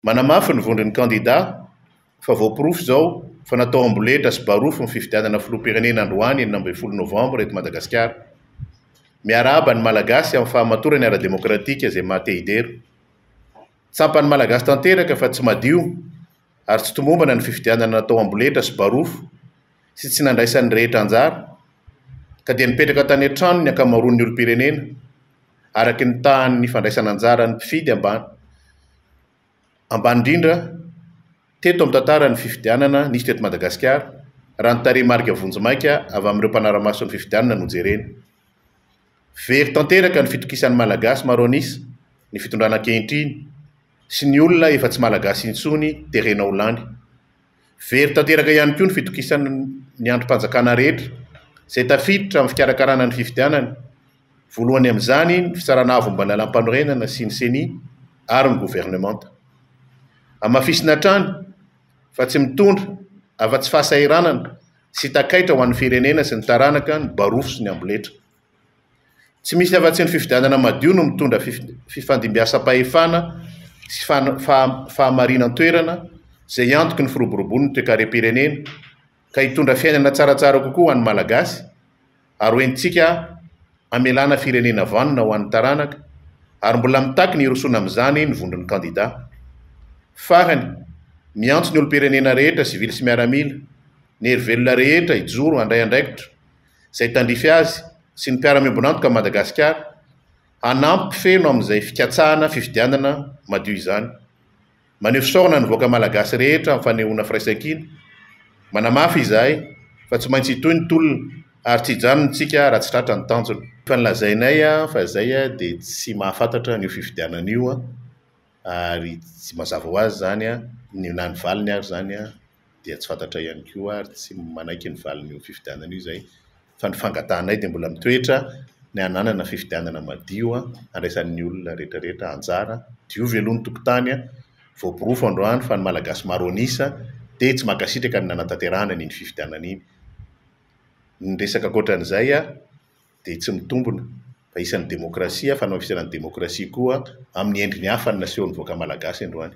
Manamafy ny vondron'ny kandidà fa voaporofo izao fa natao amboletra sy barofo ny fifidianana filoham-pirenena androany enina ambin'ny folo novambra eto Madagasikara. Miarahaba ny Malagasy amin'ny fahamatorany ara-demokratika izay maha te-hidera. Tsampan'ny Malagasy tanteraka fa tsy madio ary tsy tomombana ny fifidianana natao amboletra sy barofo sy tsy nandraisan'ny rehetra anjara, ka dia nipetraka tany an-trano ny ankamaroan'ny olom-pirenena, araka ny tahan'ny fandraisana anjaran'ny mpifidy ambany ambany indrindra teto amin'ny tantaran'ny fifidianana nisy teto Madagasikara, raha ny tarehimarika vonjimaika avy amin'ireo mpanara-maso ny fifidianana no jerena. Very tanteraka ny fitokisan'ny Malagasy maro an'isa ny fitondrana ankehitriny, sy ny olona efa tsy Malagasy intsony terena ho lany. Very tanteraka ihany koa ny fitokisana ny andrim-panjakana rehetra izay tafiditra amin'ny fikarakarana ny fifidianana, voalohany amin'izany ny Fitsarana Avo momba ny Lalàmpanorenana sy ny Ceni ary ny governemanta. Hamafisina hatrany fa tsy mitondra afa-tsy fahasahiranana sy takaitra ho an'ny firenena sy ny taranaka ny barofo sy ny amboletra. Tsy misy afa-tsy ny fifidianana madio no mitondra fifandimbiasam-pahefana sy fahamarinan-toerana izay antoky ny firoborobon'ny toekarem-pirenena ka hitondra fiainana tsaratsara kokoa ho an'ny Malagasy ary ho entintsika hamelana firenena vanona ho an'ny taranaka ary mbola mitaky ny hirosoana amin'izany ny vondron'ny kandida. Farany, miantso ny olom-pirenena rehetra, sivily sy miaramila, ny herivelona rehetra hijoro handray andraikitra izay tandrify azy sy ny mpiara-miombon'antoka amin'i Madagasikara hanampy feno amin'izay fikatsahana fifidianana madio izany. Maneho fisaorana ny vahoaka Malagasy rehetra amin'ny fanehoana firaisankina. Manamafy izahay fa tsy maintsy hitohy ny tolona ary tsy hijanona isika raha tsy tratra ny tanjona. Efa nolazainay fa izay dia tsy mahafantatra an'io fifidianana io. ary tsy mazava ho azy izany an, ny na ny valiny ary izany an dia tsy fantatray ihany koa ary tsy manaiky ny valin'io fifidianana io izay fa ny fangatahanay dia mbola mitoetra ny hananana fifidianana madio an, handraisan'ny olona rehetra rehetra anjara, diovy aloha ny tokontany an, voaporofo androany fa ny Malagasy maro an'isa dia tsy mankasitraka ny nanantanterahana an'iny fifidianana iny, ny resaka ankoatran'izay an dia tsy mitombina fa isan'ny demokrasia, fanaofisana ny demokrasia koa amin'ny endriny hafa ny nasehon'ny vahoaka malagasy androany.